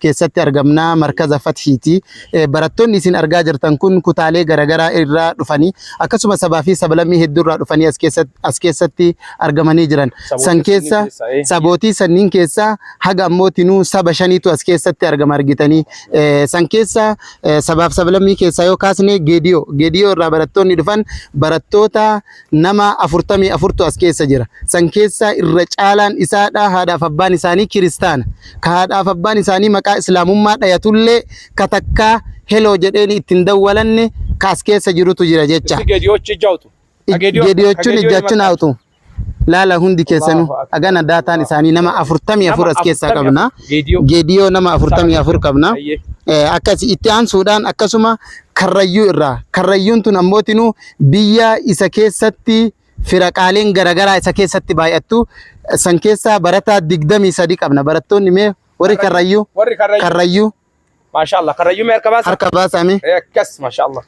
keessatti argamna markaza fathiiti barattoonni isin argaa jirtan kun kutaalee garagaraa irraa dhufanii akkasuma sabaa fi sablammii hedduu irraa dhufanii as keessatti as keessatti argamanii jiran san keessa sabootii sanniin keessa haga ammootinuu saba shaniitu as keessatti argama argitanii Eh, san keessa eh, sabaaf sablammii keessaa yoo kaasne geediyoo geediyoo irraa barattoonni dhufan barattoota nama 44tu as keessa jira. San keessaa irra caalaan isaadha haadhaaf abbaan isaanii kiristaana. Ka haadhaaf abbaan isaanii maqaa islaamummaa dhayatullee ka takkaa heloo jedheeni ittiin dawwalanne ka as keessa jirutu jira jecha. Issi gediyochi ija utu. Gediyochuun ijjachun haatu. Laala hundi keessanuu agana daataan isaanii nama 44 as keessaa qabna. Gediyoo nama 44 qabna. Akkasi itti aansuudhaan akkasuma karrayyuu irraa karrayyuun tun ammootinuu biyya isa keessatti firaqaaleen garagaraa isa keessatti baay'attu san keessaa barataa 23 qabna barattoonni mee warri karrayyuu Warri karrayyuu. karrayyuu Maashaallah karrayyuu mee harka baasa. harka baasame Eh, Akkas maashaallah.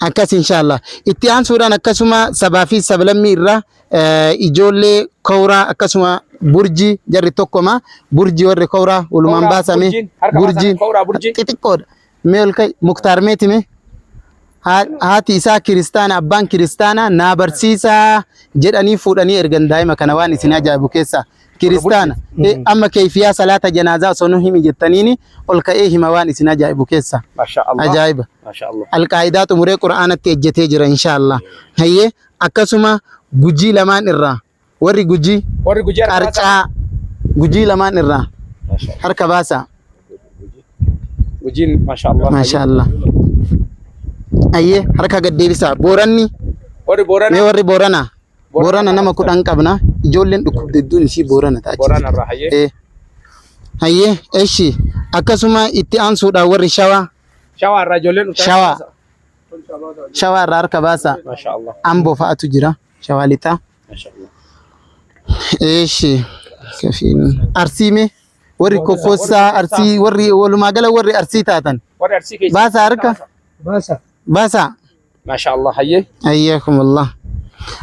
akkas inshallah itti aansuudhaan akkasuma sabaa fi sablammii irraa eh, ijoollee kowraa akkasuma burji jarri tokkoma burji warri kowraa walumaan Kowraa, baasame burjiin, harka baasame, kowraa, burji. xixiqqoodha mee ol ka'i muktaar mee time Haa- haati isaa kiristaana abbaan kiristaana naa barsiisaa jedhanii fuudhanii ergan daa'ima kana waan isin ajaa'ibu keessaa kiristaana Eh, amma keeyfiyaa salaata janaazaa osoo nu himi jettaniini ol ka'ee hima waan isin ajaa'ibu keessaa Masha Allah. ajaa'iba Masha Allah. alqaa'idaa xumuree qura'aanatti ejjetee jira inshaallah hayyee akkasuma gujii lamaan irraa Warri Gujii Warri Gujii harka baasaa. qarcaa Gujii lamaan irraa harka baasaa. Gujiin maashaallah. Maashaallah. Ayyee harka gad deebisaa. Booranni Warri Boorana. mee warri Booranaa. Boorana nama kudhan qabna. Ijoolleen dhukkubde hedduun ishii Boorana ta'a. Boorana irraa hayyee. Eh. Hayyee eshi akkasuma itti aansuudhaan warri Shawaa. Shawaa irraa ijoolleen dhuftan. Shawaa. Shawaa irraa harka baasaa. Maashaallah. Amboo fa'atu jira. Shawaa lixaa. Eeshi. Kafiin. Arsii mee. Warri kokkoossaa arsii warri walumaa gala warri arsii taatan. Warri arsii keessa. Baasaa harka. Baasa. Baasaa. Maashaa Allah hayyee. Ayyakumullah.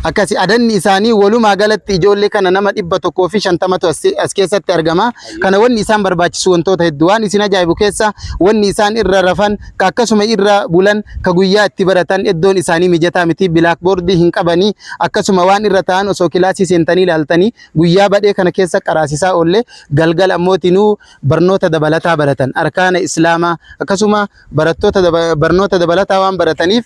Akkasi adanni isaanii walumaa galatti ijoollee kana nama dhibba tokkoo fi shantamatu as as keessatti argama. Kana wanni isaan barbaachisu wantoota hedduu waan isin ajaa'ibu keessa wanni isaan irra rafan ka akkasuma irra bulan ka guyyaa itti baratan eddoon isaanii mijataa miti bilaakboordii hin qabanii akkasuma waan irra ta'an osoo kilaasii seentanii ilaaltanii guyyaa badhee kana keessa qaraasisaa oolle galgala ammooti nuu barnoota dabalataa baratan arkaana islaamaa akkasuma barattoota daba- barnoota dabalataa waan barataniif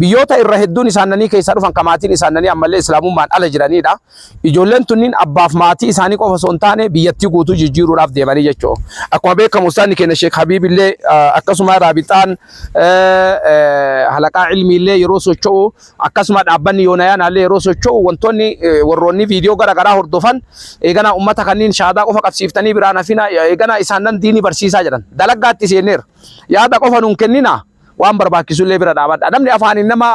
Biyyoota irra hedduun isaannanii keessaa dhufan ka maatiin isaannanii ammallee Islaamummaan ala jiraniidha. Ijoolleen tunniin abbaaf maatii isaanii qofa osoo hin taane biyyattii guutuu jijjiiruudhaaf deemanii jechuudha. Akkuma beekamu ustaanni keenya Sheek Habiibillee akkasuma raabixaan halaqaa ilmiillee yeroo socho'u akkasuma dhaabbanni yoonayaanaallee yeroo socho'u wantoonni warroonni viidiyoo gara garaa hordofan eeganaa ummata kanniin shaadaa qofa qabsiiftanii biraan hafina eeganaa isaannan diinii barsiisaa jedhan dalaggaatti seenneera. Yaada qofa nuun kenninaa. waan barbaachisullee bira dhaabadha. Namni afaaniin nama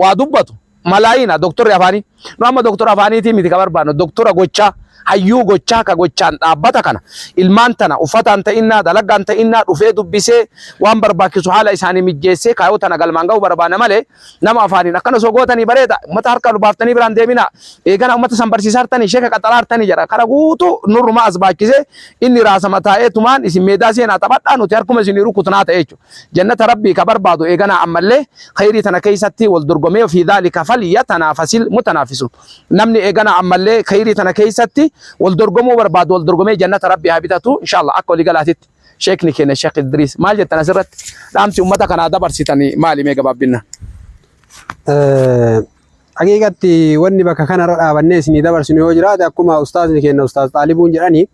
waa dubbatu malaayiina doktorri afaanii. Nu amma doktora afaaniitii miti ka barbaannu doktora gochaa hayyuu gochaa ka gochaan dhaabbata kana ilmaan tana uffataan ta'innaa dalagaan ta'innaa dhufee dubbisee waan barbaachisu haala isaanii mijjeessee kaayoo tana galmaan ga'u barbaana malee nama afaaniin akkana osoo gootanii bareeda ummata harka lubaaftanii biraan deemina eegana ummata san barsiisaa hartanii sheeka qaxaraa hartanii jedha kana guutuu nurrumaa as baachisee inni raasama taa'ee tumaan isin meedaa seenaa taphadhaa nuti harkuma isinii rukutnaa ta'e jechuudha. Jannata Rabbii ka barbaadu eeganaa ammallee kheyrii tana keeysatti wal dorgomee wa fii dhaalika falyatanaafasil mutanaafisuun. Namni eeganaa ammallee kheyrii tana keeysatti wal dorgomuu barbaadu wal dorgomee jannata Rabbii haa bitatu inshaa Allaah. Akka walii galaatitti Sheekhni keenya Sheekh Idriis maal jettan asirratti? Dhaamsi ummata kanaa dabarsitan maali mee gabaabbinaan? Haqiiqatti wanni bakka kanarra dhaabannee isinii dabarsinu yoo jiraate akkuma ustaazni keenya ustaaz Xaalibuun jedhani.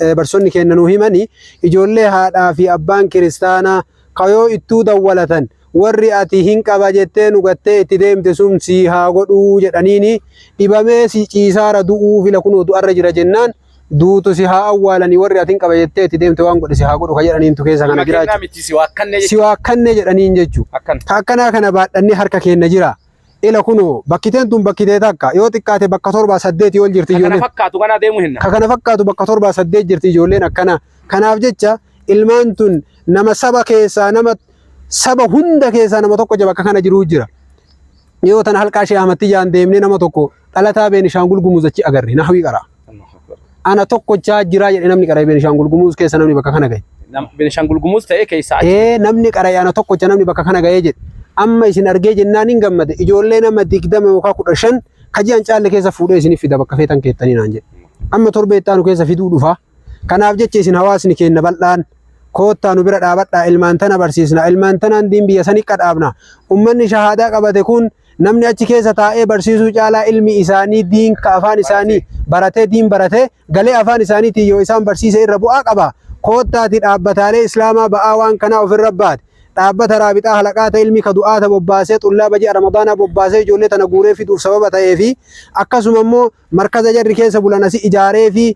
eh, barsoonni keenna nuu himani ijoollee haadhaa fi abbaan kiristaanaa kayoo ittuu dawwalatan warri ati hin qaba jettee nu gattee itti deemte sun sii haa godhuu jedhaniini dhibamee si ciisaara du'uu fila kunoo du'arra jira jennaan duutu si haa awwaalanii warri ati hin qaba jettee itti deemte waan godhe si haa godhu ka jedhaniintu keessa kana jira jechuudha. miti si waakkanne si waakkannee jedhaniin jechuudha. Akkana. Ka akkanaa kana baadhannee harka keenna jira. Ila kuno bakkiteen tun bakkitee takka yoo xiqqaate bakka torbaa saddeetii ol jirti ijoolleen. Kana fakkaatu kana deemu hinna. Ka kana fakkaatu bakka torbaa saddeet jirti ijoolleen akkana. Kanaaf jecha ilmaan tun nama saba keessaa nama saba hunda keessaa nama tokko jaba akka kana jiruu jira. Yoo tana halqaa Shee Ahmad Tijaan deemnee nama tokko Dhalataa Beenishaangul Gumuz achi agarre nahwii qara. Ana tokkochaa jiraa jedhe namni qara'e Beenishaangul Gumuz keessa namni bakka kana gahe. Beenishaangul Gumuz ta'ee keessa achi. Ee namni qara'e ana tokkocha namni bakka kana gahee jedhe. Amma isin argee jennaan hin gammade ijoollee nama digdama yookaan kudha shan kaji'an caalle keessa fuudhee isiniif fida bakka feetan keettanii naan jedhe. Amma torbee itti aanu keessa fiduu dhufaa. Kanaaf jecha isin hawaasni keenna bal'aan koottaa nu bira dhaabadhaa ilmaan tana barsiisnaa ilmaan tanaan diin biyya sanii qadhaabna. Ummanni shahaadaa qabate kun namni achi keessa taa'ee barsiisuu caalaa ilmi isaanii diin ka afaan isaanii baratee diin baratee galee afaan isaaniitiin yoo isaan barsiise irra bu'aa qaba. Koottaati dhaabbataalee islaamaa ba'aa waan kanaa ofirra baate dhaabbata raabixaa halaqaata ilmi ka du'aata bobbaasee xullaaba ji'a ramadaanaa bobbaasee ijoollee tana guuree fiduuf sababa ta'ee fi akkasuma immoo markaza jarri keessa bulan asi ijaaree fi